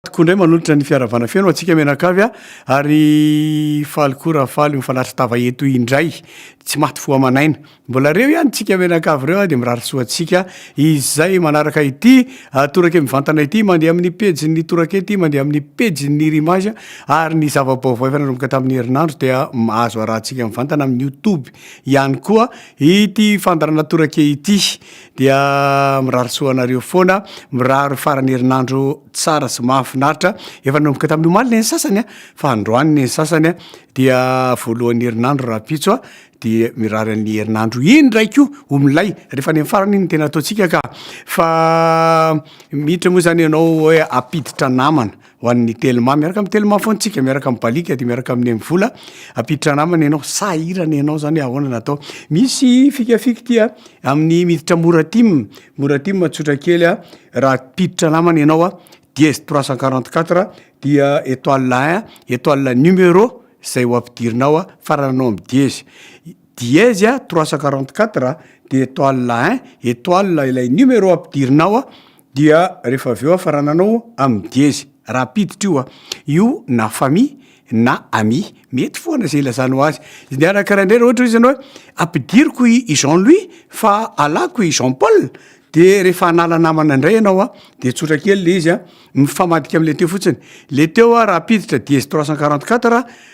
Koa indray manolotra ny fiaravana feno antsika mianakavy a! ary faly koa raha faly mifanatry tava eto indray tsy maty fo aman'aina mbola reo ihany tsika mianakavy ireo a! dia mirary soa antsika izay manaraka ity torake mivantana ity mandeha amin'ny pejin'ny torake ity mandeha amin'ny pejin'ny rimage ary ny zava-baovao efa nanomboka tamin'ny herinandro dia mahazo arahantsika mivantana amin'ny youtube ihany koa ity fandarana torake ity Dia mirary soa anareo foana, mirary faran'ny herinandro tsara sy mahafinaritra. Efa nanomboka tamin'ny omaly ny sasany a, fa androany ny sasany a, dia voalohan'ny herinandro rahampitso a, dia mirary an'ny herinandro iny ndray koa ho milay, rehefa any amin'ny farany iny no tena ataontsika ka. Fa miditra moa zany ianao hoe hampiditra namana, ho an'ny telma, miaraka amin'ny telma foana tsika miaraka amin'ny balika de miaraka amin'ny amin'ny vola ampiditra namana ianao sahirana ianao zany ahoana natao misy fikafika tia amin'ny miditra moratim moratim tsotra kely a raha mpiditra namana ianao a dièse trois cent quarante quatre dia etoile un etoile numero zay ho ampidirinao a farananao amin'ny dièse dièse a trois cent quarante quatre dia etoile un etoile ilay numero ampidirinao a. Dia rehefa avy eo aho fa raha nanao amin'ny diezy rapiditra io aho, io na famille na amis, mety foana izay ilazanao azy. Izy niaraka raindray raha ohatra hoe izy anao hoe ampidiriko i i Jean Louis fa alako i Jean Paul, dia rehefa hanala namana indray ianao an, dia tsotra kely ilay izy an, mifamadika amin'ilay teo fotsiny. Ilay teo an, rapiditra diezy trois cent quarante quatre,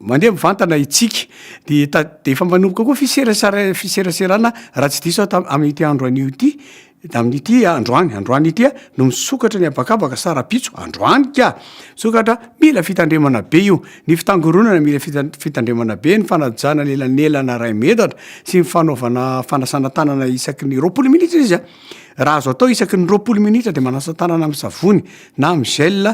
Mandeha mivantana isika. Dia ta, dia efa manomboka koa fiserasera, fiseraserana raha tsy diso aho tam, amin'ity andro anio ity, amin'ity androany, androany ity no misokatra ny habakabaka sa rahampitso, androany ka! Misokatra, mila fitandremana be io. Ny fitangoronana mila fita, fitandremana be, ny fanajana an'elanelana iray metatra, sy ny fanaovana fanasana tanana isaky ny roapolo minitra izy an! Raha azo atao isaky ny roapolo minitra dia manasa tanana amin'ny savony na amin'ny gel,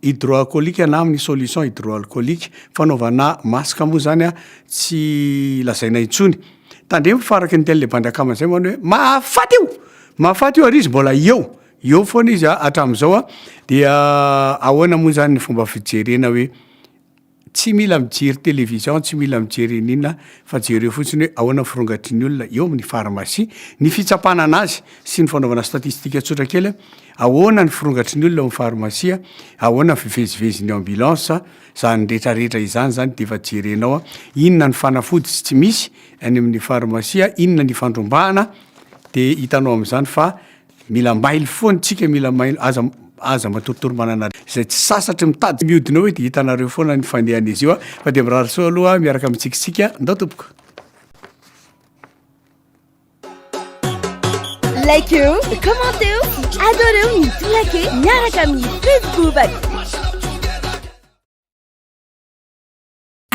Hydroalcoolique na amin'ny solution hydroalcoolique. Fanaovana masque moa izany tsy lazaina intsony. Tandremo fa araka ny dian'ilay bandy akama izay manao hoe mahafaty io! Mahafaty io ary izy mbola eo, eo foana izy hatramin'izao. Dia ahoana moa izany ny fomba fijerena hoe. Tsy mila mijery television, tsy mila mijery ininona fa jereo fotsiny hoe ahoana ny firongatry ny olona eo amin'ny pharmacie, ny fitsapana an'azy sy ny fanaovana statistique tsotra kely, ahoana ny firongatry ny olona ao amin'ny pharmacie, ahoana ny fivezivezin'ny ambulance, izany rehetra rehetra izany izany dia efa jerenao inona ny fanafody sy tsy misy any amin'ny pharmacie, inona ny ifandrombahana dia hitanao amin'izany fa Mila mailo foana itsika mila mailo aza aza matoritory manana izay tsy sasatry mitady miodina eo dia hitanareo foana ny fandehan'izy io fa dia mirary soa aloha miaraka amintsika isika ndao tompoko like eo commente eo adore eo ny tolake miaraka amin'ny facebook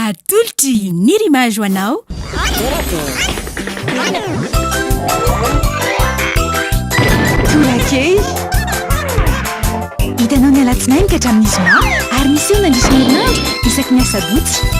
Atolotry ny Rimage ho anao. Torakely. Hitanao ny alatsinainy ka hatramin'ny zoma ary miseho mandritra ny herinandro isaky ny asabotsy.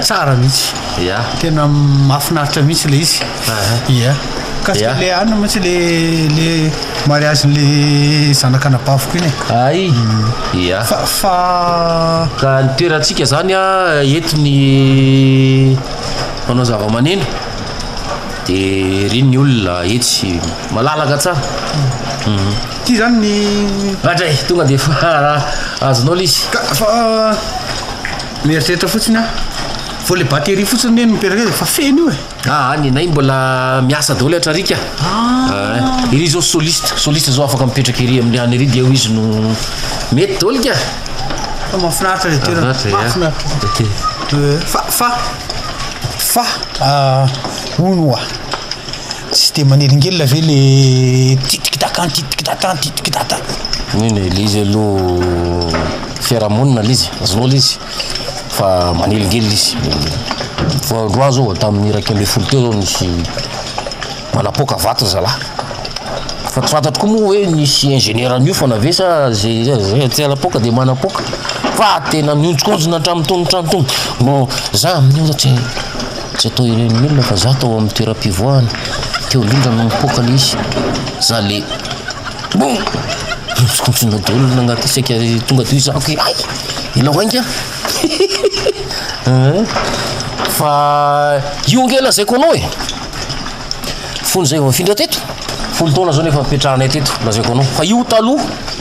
Tsara mihitsy. Ya. Tena mahafinaritra mihitsy ilay izy. Aha. Ya. Kasi Ya. le any mantsy le le mariage le zanak'anabaviko iny e. Ay. Ya. Fa fa Ka ny toerantsika zany a eto ny mpanao zavamaneno de ery ny olona etsy malalaka tsara. ty zany ny Raha dray tonga de fa azonao le izy. ka fa Mieritreritra fotsiny aho vao le batterie fotsiny anie no mipetraka eo e, fa feno io e. Aa ny anay mbola miasa daholo atra ric a, ah iry zao soliste, soliste zao afaka mipetraka iry amin'ny any iry de eo izy no mety daholo ka. Fa mahafinaritra le toerana, mahafinaritra fa fa fa fa hono oa. Tsy dia manelingelina ve le titikidaka titikidaka titikidaka? Mino e, le izy aloha fiarahamonina le izy, azonao le izy fa manelingelina izy. Vao androany zao tamin'ny iraika ambin'ny folo teo zao nisy nanapoaka vato zalahy. Fa tsy fantatro koa moa hoe nisy ingénieur niofana ve sa ze ze tsy hanapoaka dia manapoaka fa tena mihonjokonjona hatramin'ny tongotrany tony. Mbo za amin'io za tsy Tsy atao irenin'ny olona fa za tao amin'ny toeram-pivoahana teo indrindra no nipoaka le izy. Za le boum! Nikontsinona daholo olona agnaty saika tonga teo izy aky ay! Ianao ainga! Fa io ange lazaiko anao e! Fony zay vao nifindra teto, folo taona zao no efa nipetrahanay teto lazaiko anao, fa io taloha.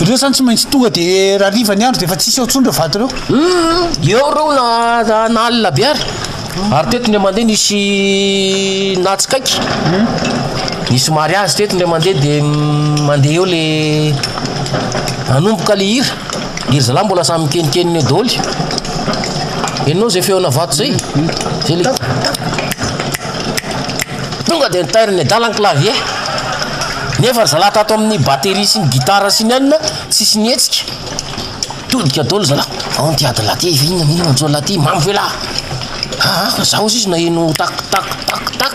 Ireo zany tsy maintsy tonga de raha riva ny andro de efa tsisy ao tsony reo vato reo. Hum eo reo na na alina be ary. Ary teto indray mandeha nisy natsikaiky. Nisy mariazy teto indray mandeha de mandeha eo le hanomboka le hira. Ry zalahy mbola samy mikeninkenina eo daholo. Henonao zay feona vato zay? Zay le. Tonga dia nitairiny adala ny clavier. Nefa ry zalahy tato amin'ny batterie sy ny guitare sy ny anona tsisy nihetsika. Todika daholo zalahy. Ao ty adala ty, efa inona inona njo lahy ty, mamy ve lahy? Haa fa zaho sisa naheno tak tak tak tak.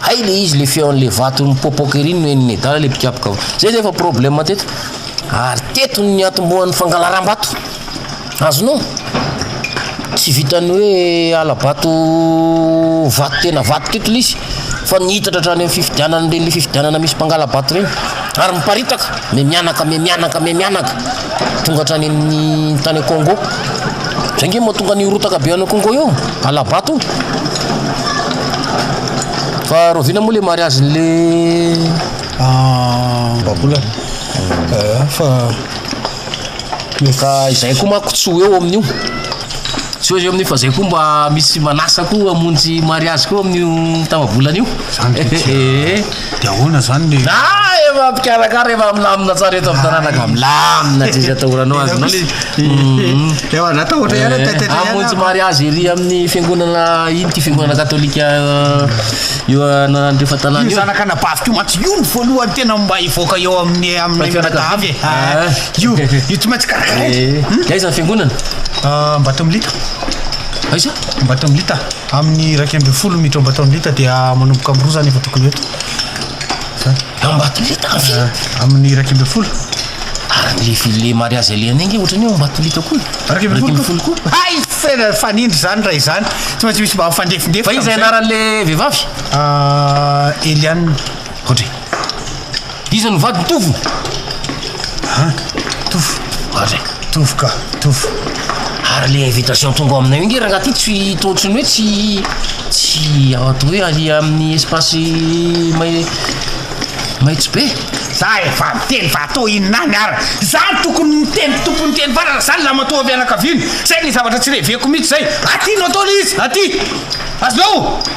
Hay le izy le feon'le vato mipopoka ery no henon'ny adala le mpikapoka. Zay zay efa problème teto. Ary teto ny niantombohan'ny fangalaram-bato. Azonao? Tsy vitan'ny hoe hala-bato vato tena vato teto ilay izy fa nihitatra hatrany amin'ny fifidianana ireny fifidianana misy mpangala-bato ireny ary miparitaka me mianaka me mianaka me mianaka tonga hatrany amin'ny tany Congo. Izay nge mahatonga ny rotaka be any Congo io, hala-bato io. Fa rahoviana moa le mariazy le ah, Babola. Ah, fa Ka izay koa manko tsy ho eo amin'io. Tsy eo izy amin'io fa zay koa mba misy manasa koa hamonjy mariazy koa amin'io tafabolana io. Zany dia tsy eh. Dia ahoana zany le. Na efa mpikarakara efa milamina tsara eto amin'ny tanàna ka milamina tsy misy atahoranao azy anao le. Ewa za tahotra ihany taitaitra ihany aho. Hamonjy mariazy ery amin'ny fiangonana iny ity fiangonana katolika Io anaran'ireo fahatanana io. Io zanak'anabaviko io mantsy io ny voalohany tena mba hivoaka eo amin'ny amin'ny fianakaviana e. Ah, ah. Io io tsy maintsy karakaraina. Eh, hmm? Aiza ny fiangonana? Ah, Ambatomilita. Aiza? Ambatomilita. Amin'ny iraika ambin'ny folo miditra Ambatomilita dia manomboka amin'ny roa zany efa tokony ho eto. Zany. Ambatolita aho ve? Amin'ny iraika ambin'ny folo. Ary ny lefy le mariazy alehany iny nge otrany eo Ambatolita koa e. Iraika ambin'ny folo koa? Hay! Tena fanindry zany raha izany. Tsy maintsy misy mba mifandefindefy Fa iza tamin'izay. anaran'le vehivavy? Ah, Eliane. Ohatry e. Iza no vadiny? Tovo? An? Tovo? Ohatry e. Tovo ka, tovo. Ary le invitation tonga ao aminay io nge rangaha ty tsy to ohatran'ny hoe tsy tsy ato hoe alia amin'ny espace mai maitso be. Za efa niteny fa atao inona any ara? Za no tokony niteny tompony teny fa raha za ny lamatoa fianakaviany, zay le zavatra tsy reveko mihitsy zay. Aty no atao le izy, aty! Azonao?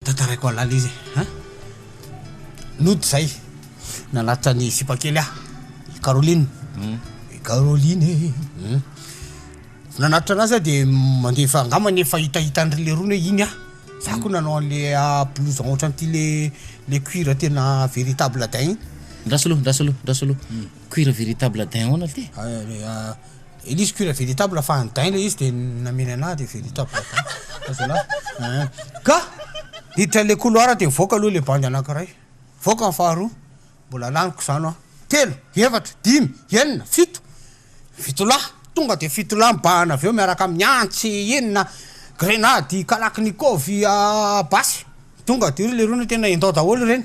Tantaraiko halala izy e! Nody zay nanatitra ny sipa kely ahy i Caroline i Caroline e! vao nanatitra anazy aho dia mandefa angamba ny efa hitahita an'ireo lerony hoe iny aho za koa nanao an'le blouson ohatran'ity le le cuir tena véritable daim iny. Ndraso aloha ndraso aloha ndraso aloha cuir véritable daim ahoana ity? Elise cuir véritable fa any dain le izy de namely anah de véritable dain fa zalah eeh ka hiditra le couloir de mivoaka aloha le bandy anakiray mivoaka ny faharoa mbola laniko zano an telo efatra dimy enina fito fito lahy tonga de fito lahy mibahana avy eo miaraka amin'ny antsy inona grenady kalaknikov basy tonga de ry lerony tena indao daholo ireny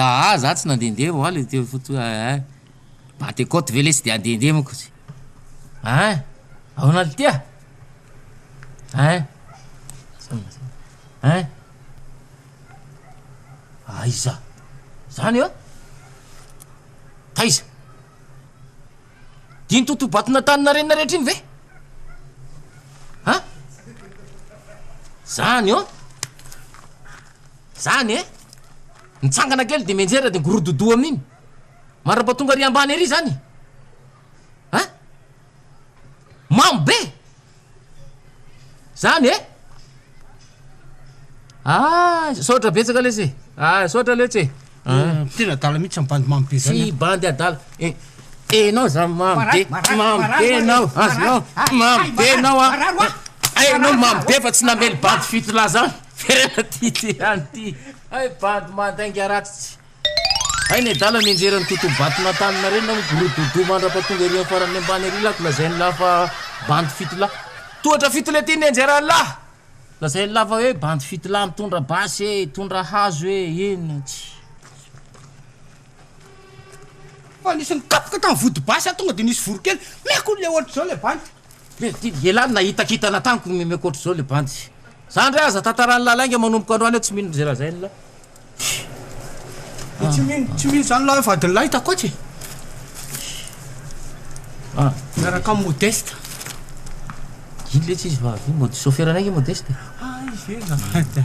Aah za tsy nandendeha vao oaly teo foto hoe aah ba de côte ve le tsy de andendeha manko izy aah ahoana ry tia aah aah aiza zany an taiza diny totobato natanina renina rehetra iny ve an zany an. Zany eh! Mitsangana kely de mianjera de migorododoo amin'iny! Mandrapa tonga ary ambany ary zany eh! An! Mamo be! Zany eh! Aa! Misaotra betsaka lesy e! Aa! Misaotra letsy e! Tena adala mihitsy zany bandy mamy be zany an! Tsy bandy adala e! Enao zany mamy be, mamy be enao, azonao, mamy be enao an! Hay enao mamy be fa tsy namely bandy fito lahy zany! Ferena ty ty any ty! Hay bandy mandainga ratsy! Hay ny adala mianjera ny tontolo batonantanana reny nao migorododoo mandrapa tonga ery amin'ny farany ambany ery lako lazain'ny lahy fa bandy fito lahy! Tohatra fito le ty mianjera ny lahy! Lazain'ny lava hoe bandy fitila mitondra basy e, mitondra hazo e, eny aty. Fa nisy nikapoka tany vody basy aho tonga dia nisy voronkely meko le ohatr'izao le bandy. Dia dia ialahy no nahita kintana tamiko meko ohatr'izao le bandy. Zandry aza tantaran'i lalainga manomboka androany aho tsy mino izay lazain'la. Tsy mino zany lahy vadiny lahy takoatsy e! Ah. Miaraka am Modeste. Ino letsy izy vavy io? Mody chauffeur anay nge Modeste e. Ah izy io zafady a.